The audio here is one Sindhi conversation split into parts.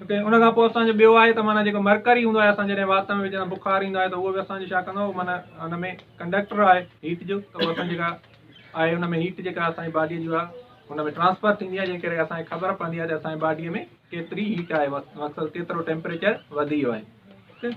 اوڪي ان کان پوء اسان جو ٻيو آهي ته معنی جيڪو مرڪري هوندو آهي اسان جڏهن وات ۾ وجهه سان بخار ايندو آهي ته اهو به اسان جو ڇا ڪندو آهي معنی ان ۾ ڪنڊڪٽر آهي هيٽ جو ته اهو اسان جيڪا آهي ان ۾ هيٽ جيڪا اسانجي باڊي جو آهي ان ۾ ٽرانسفر ٿيندي آهي جنهن ڪري اسانکي خبر پوندي آهي ته اسانجي باڊي ۾ ڪيتري هيٽ آهي مقصد ڪيترو ٽيمپريچر وڌي ويو آهي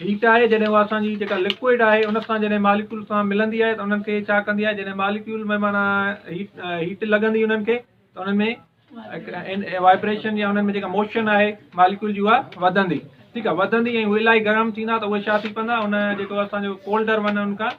هيٽ آهي جڏهن اها اسان جي جيڪا لڪوئڊ آهي ان سان جڏهن ماليڪيول سان ملندي آهي ته انهن کي ڇا ڪندي آهي جڏهن ماليڪيول ۾ معنيٰ هيٽ لڳندي انهن کي ته انهن ۾ وائبريشن يا انهن ۾ جيڪا موشن آهي ماليڪيول جي اها وڌندي ٺيڪ آهي وڌندي ۽ اهي الاهي گرم ٿيندا ته اهي ڇا ٿي پوندا ان جيڪو اسانجو ڪولڊر ون ان کان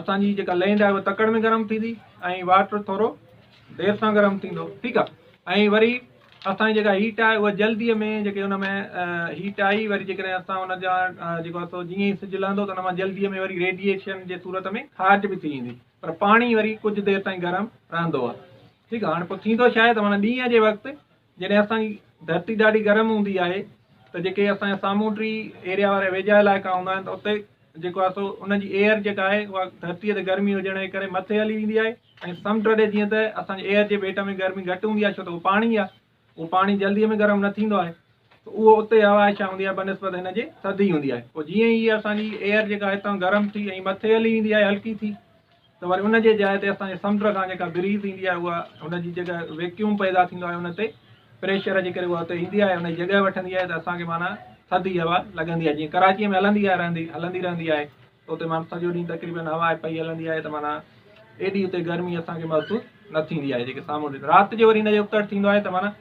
اسان جي جيڪا لينڊ آهي اها تڪڙ ۾ گرم ٿيندي ۽ واٽر ٿورو دير سان گرم ٿيندو ٺيڪ آهي ۽ وري اسان جي جيڪا هيٽ آهي اها جلدي ۾ جيڪي ان ۾ هيٽ آئي وري جيڪڏهن اسان ان جا جيڪو آهي سو جيئن ئي سج لهندو ته ان مان جلدي ۾ وري ريڊيئيشن جي صورت ۾ خارج به ٿي ويندي پر پاڻي وري ڪجهه دير تائين گرم رهندو آهي ٺيڪ آهي هاڻي پوء ٿيندو ڇا آهي ته معنيٰ ڏينهن جي وقت جڏهن اسان جي ڌرتي ڏاڍي گرم هوندي آهي ته جيڪي اسان جا سامونڊي ايريا وارا ويجها علائقا هوندا آهن ته اتي جيڪو آهي سو ان جي ايئر جيڪا آهي اها ڌرتي تي گرمي هجڻ جي ڪري مٿي هلي ويندي آهي ۽ سمنڊ ڏي جيئن ته اسان جي ايئر جي ويٽ ۾ گرمي گهٽ هوندي آهي ڇو ته اهو پاڻي آهي اهو پاڻي جلدي ۾ گرم نه ٿيندو آهي ته اهو اتي هوا آهي ڇا هوندي آهي بنسبت هن جي ٿڌي هوندي آهي پوء جيئن ئي اسان جي ايئر جيڪا هتان گرم ٿي ۽ مٿي هلي ويندي آهي هلڪي ٿي ته وري ان جي جاء تي اسان جي سمنڊ کان جيڪا بريز ايندي آهي اها ان جي جيڪا ويڪيوم پيدا ٿيندو آهي ان تي پريشر جي ڪري اها اتي ايندي آهي ان جي جڳهه وٺندي آهي ته اسان کي معنيٰ ٿڌي هوا لڳندي آهي جيئن ڪراچيء ۾ هلندي آهي رهندي هلندي رهندي آهي ته اتي معنيٰ سڄو ڏينهن تقريبن هوا پئي هلندي آهي ته معنيٰ ايڏي اتي گرمي اسان کي محسوس نه ٿيندي آهي جيڪي سامونڊ رات جو وري ان جو ابتڙ ٿيندو آهي ته معنيٰ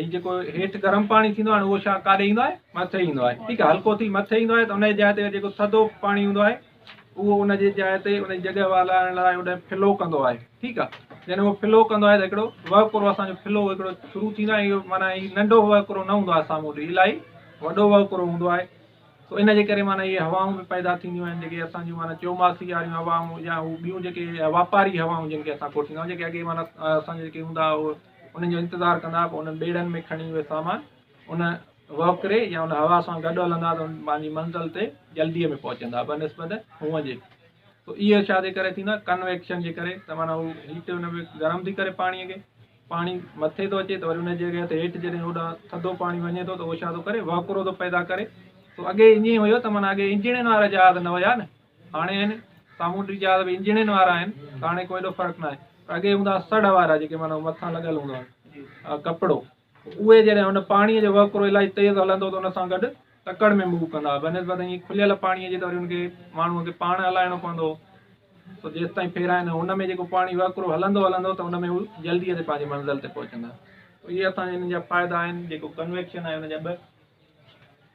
۽ جيڪو هيٺ گرم پاڻي ٿيندو آهي اهو شا ڪاڏي ايندو آهي مٿي ايندو آهي ٺيڪ آهي هلڪو ٿي مٿي ايندو آهي ته ان جي جاء تي جيڪو ٿڌو پاڻي هوندو آهي اهو ان جي جاء تي ان جي جڳهه والائڻ لاء هوڏانهن فلو ڪندو آهي ٺيڪ آهي جڏهن اهو فلو ڪندو آهي ته هڪڙو وهڪرو اسان جو فلو هڪڙو شروع ٿيندو آهي اهو معنيٰ هي ننڍو وهڪرو نه هوندو آهي سامهون ڏي الاهي وڏو وهڪرو هوندو آهي سو ان جي ڪري معنيٰ اهي هوائون به پيدا ٿينديون آهن جيڪي اسان جون معنيٰ چوماسي واريون هوائون يا هو ٻيون جيڪي واپاري هوائون جن کي اسان ڪوٺيندا آهيون جيڪي اڳي معنيٰ اسان جا جيڪي هوندا هو انهن جو انتظار ڪندا پوء انهن ٻيڙن ۾ کڻي اهي سامان ان وهڪري يا ان هوا سان گڏ هلندا ته پنهنجي منزل تي جلديء ۾ پهچندا بنسبت هونء جي تو اهي ڇا جي ڪري ٿيندا ڪنويڪشن جي ڪري ته معنيٰ هو هيٽ ان ۾ گرم ٿي ڪري پاڻيء کي پاڻي مٿي ٿو اچي ته وري ان جي جڳهه تي هيٺ جڏهن هوڏانهن ٿڌو پاڻي وڃي ٿو ته اهو ڇا ٿو ڪري وهڪرو ٿو پيدا ڪري تو اڳي ائين هيو ته معنيٰ اڳي انجڻين وارا جهاز نه هيا نه هاڻي آهن، سامونڊي جهاز به انجڻين وارا آهن ته هاڻي ڪو ايڏو فرق ناهي پر اڳي هوندا هئا سڙهه وارا جيڪي معنيٰ مٿان لڳل هوندو آهي ڪپڙو اهي جڏهن هن پاڻي جو وهڪرو الاهي تيز هلندو ته ان سان گڏ تڪڙ ۾ موو ڪندا هئا بنسبت ائين کليل پاڻي جي ته وري ان کي ماڻهو کي پاڻ هلائڻو پوندو هو سو جيستائين ڦيرائين هن ۾ جيڪو پاڻي وهڪرو هلندو هلندو ته ان ۾ هو جلدي تي پنهنجي منزل تي پهچندا اهي اسان جا هن جا فائدا آهن جيڪو ڪنويڪشن آهي ان جا ٻه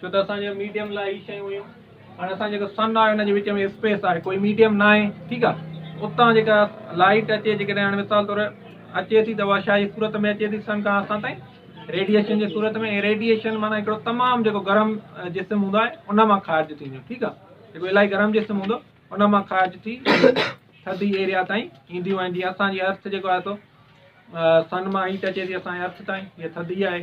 ڇو ته اسان جي ميڊيم لاء هي شيون هيون هاڻي اسان جيڪو سن آهي ان جي وچ ۾ اسپيس آهي ڪوئي ميڊيم نه آهي ٺيڪ آهي اتان جيڪا لائيٽ اچي جيڪڏهن هاڻي مثال طور اچي ٿي ته اها شاهي صورت ۾ اچي ٿي سن کان اسان تائين ريڊيشن جي صورت ۾ ۽ ريڊيشن معنی هڪڙو تمام جيڪو گرم جسم هوندو آهي ان مان خارج ٿيندو ٺيڪ آهي جيڪو الاهي گرم جسم هوندو ان مان خارج ٿي ٿڌي ايريا تائين اينديون آهن جيئن اسان جي ارٿ جيڪو آهي سو سن مان هيٽ اچي ٿي اسان جي ارٿ تائين هي ٿڌي آهي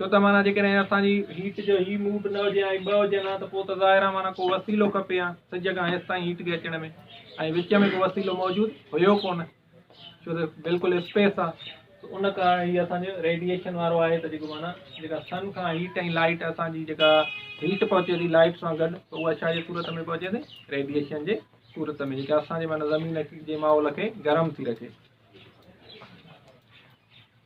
ڇو ته معنيٰ جيڪڏهن اسان جي هيٽ جو هي موڊ نه هجي ۽ ٻه هجن ها ته پوء ته ظاهر آهي معنيٰ ڪو وسيلو کپي ها سج کان هيس تائين هيٽ کي اچڻ ۾ ۽ وچ ۾ ڪو وسيلو موجود هيو ڪونه ڇو ته بلڪل اسپيس آهي ته ان ڪارڻ هي اسان جو ريڊيئيشن وارو آهي ته جيڪو معنيٰ جيڪا سن کان هيٽ ۽ لائٽ اسان جي جيڪا هيٽ پهچي ٿي لائٽ سان گڏ ته اها ڇا جي صورت ۾ پهچي ٿي ريڊيئيشن جي صورت ۾ جيڪا اسان جي معنيٰ زمين جي ماحول کي گرم ٿي رکي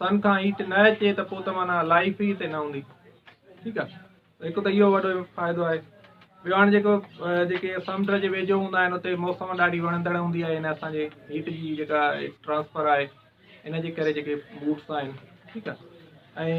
سن کان هيٽ نه اچي ته پوء ته معنيٰ لائيف ئي هتي نه هوندي ٺيڪ آ هڪ ته اهو وڏو فائدو آهي ٻيو هاڻي جيڪو جيڪي سمنڊ جي ويجهو هوندا آهن اتي موسم ڏاڍي وڻندڙ هوندي آهي ان اسان جي هيٽ جي جيڪا ٽرانسفر آهي ان جي ڪري جيڪي بوٽس آهن ٺيڪ آ ۽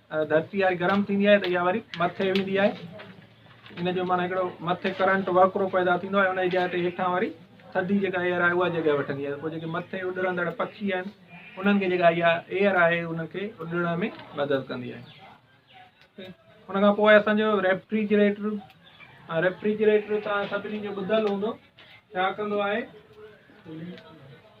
ڌرتي آهي گرم ٿيندي آهي ته اها وري مٿي ويندي آهي ان جو معنيٰ هڪڙو مٿي ڪرنٽ وهڪرو پيدا ٿيندو آهي ان جي جاء تي هيٺان وري ٿڌي جيڪا ايئر آهي اها جڳهه وٺندي آهي پوء جيڪي مٿي اڏرندڙ پکي آهن انهن کي جيڪا اها ايئر آهي ان کي اڏرڻ ۾ مدد ڪندي آهي ان کان پوء اسانجو ريفريجريٽر ريفريجريٽر تان سڀني جو ٻڌل هوندو ڇا ڪندو آهي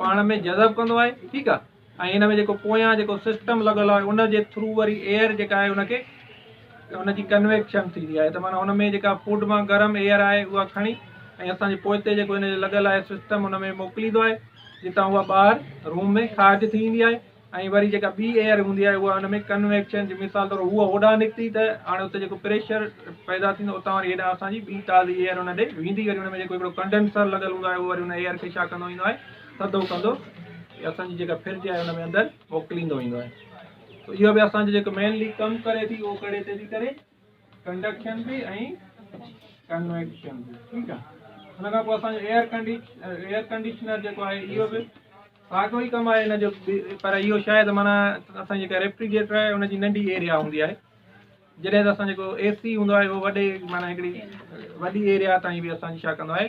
پاڻ ۾ جذب ڪندو آهي ٺيڪ آهي ۽ ان ۾ جيڪو پويان جيڪو سسٽم لڳل آهي ان جي ٿرو وري ايئر جيڪا آهي ان کي ان جي ڪنويڪشن ٿيندي آهي ته معنی ان ۾ جيڪا فوڊ مان گرم ايئر آهي اها کڻي ۽ اسان جي پوئتي جيڪو ان جو لڳل آهي سسٽم ان ۾ موڪليندو آهي جتان اها ٻاهر روم ۾ خارج ٿي ويندي آهي ۽ وري جيڪا ٻي ايئر هوندي آهي اها ان ۾ ڪنويڪشن جي مثال طور هوء هوڏانهن نڪتي ته هاڻي اتي جيڪو پريشر پيدا ٿيندو اتان وري هيڏانهن اسان جي ٻي تازي ايئر ان ڏي ويندي وري ان ۾ جيڪو هڪڙو ڪنڊنسر لڳل هوندو آهي اهو وري ان ايئر کي ڇا ڪندو ويندو آهي ٿڌو ڪندو اسان جي جيڪا فرج آهي ان ۾ اندر موڪليندو ويندو آهي اهو به اسان جو جيڪو مينلي ڪم ڪري ٿي اهو ڪهڙي تي ٿي ڪري ڪنڊڪشن به ۽ ڪنويڪشن به ٺيڪ آ ان کان پوء اسان جو ايئر ڪنڊيشن ايئر ڪنڊيشنر جيڪو آهي اهو به ساڳو ئي ڪم آهي ان جو پر اهو شايد معنی اسان جيڪا ريفريجريٽر آهي ان جي ننڍي ايريا هوندي آهي جڏهن ته اسان جيڪو اي سي هوندو آهي اهو وڏي معنی هڪڙي وڏي ايريا تائين به اسان جي ڇا ڪندو آهي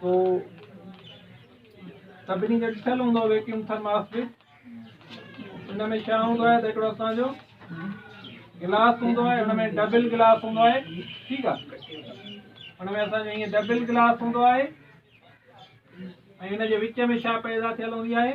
تو سڀني کي ڏٺل هوندو ويڪيوم ٿرماس به ان ۾ ڇا هوندو آهي ته هڪڙو اسان جو گلاس هوندو آهي ان ۾ ڊبل گلاس هوندو آهي ٺيڪ آهي ان ۾ اسان جو هيئن ڊبل گلاس هوندو آهي ۽ ان جي وچ ۾ ڇا پيدا ٿيل هوندي آهي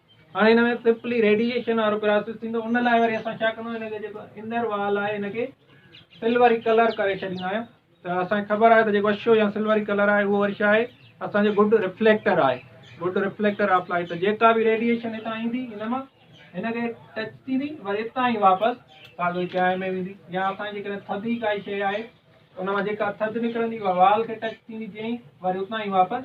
هاڻي هن ۾ پپلي ريڊيئيشن وارو پراسيس ٿيندو ان لاء وري اسان ڇا ڪندو هن کي جيڪو انر وال آهي هن کي سلوري ڪلر ڪري ڇڏيندا آهيون ته اسانکي خبر آهي ته جيڪو اشو يا سلوري ڪلر آهي اهو وري ڇا آهي اسانجو گڊ ريفليڪٽر آهي گڊ ريفليڪٽر آف لائٽ ته جيڪا به ريڊيئيشن هتان ايندي هن مان هن کي ٽچ ٿيندي وري هتان ئي واپس ساڳو چانهه ۾ ويندي يا اسان جيڪڏهن ٿڌي ڪائي شيء آهي ان مان جيڪا ٿڌ نڪرندي اها وال کي ٽچ ٿيندي جئين وري اتان ئي واپس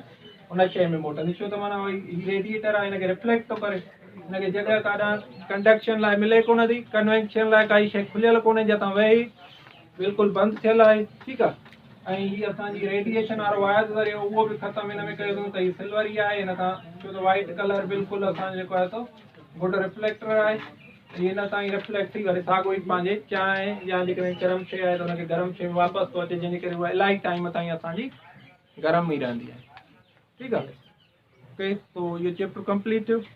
ان شيء ۾ موٽندي ڇو ته معنيٰ اهو هي ريڊيئيٽر آهي هن کي ريفليڪٽ ٿو ڪري هن کي جڳهه ڪاڏان ڪنڊڪشن لاء ملي ڪونه ٿي ڪنوينشن لاء ڪائي شيء کليل ڪونهي جتان وهي بلڪل بند ٿيل آهي ٺيڪ آهي ۽ هي اسان جي ريڊيئيشن وارو واير ذريعو اهو به ختم هن ۾ ڪيو اٿون ته هي سلور ئي آهي هن سان ڇو ته وائٽ ڪلر بلڪل اسان جيڪو آهي سو گڊ ريفليڪٽر آهي جيئن نه اسان جي ريفليڪسي واري ساڳو ئي پنهنجي چانهه يا جيڪڏهن گرم شيء آهي ته ان کي گرم شيء ۾ واپس ٿو اچي جنهن جي ڪري اها الاهي ٽائيم تائين اسان جي گرم ئي رهندي آهي ٺيڪ آهي okay so your chapter complete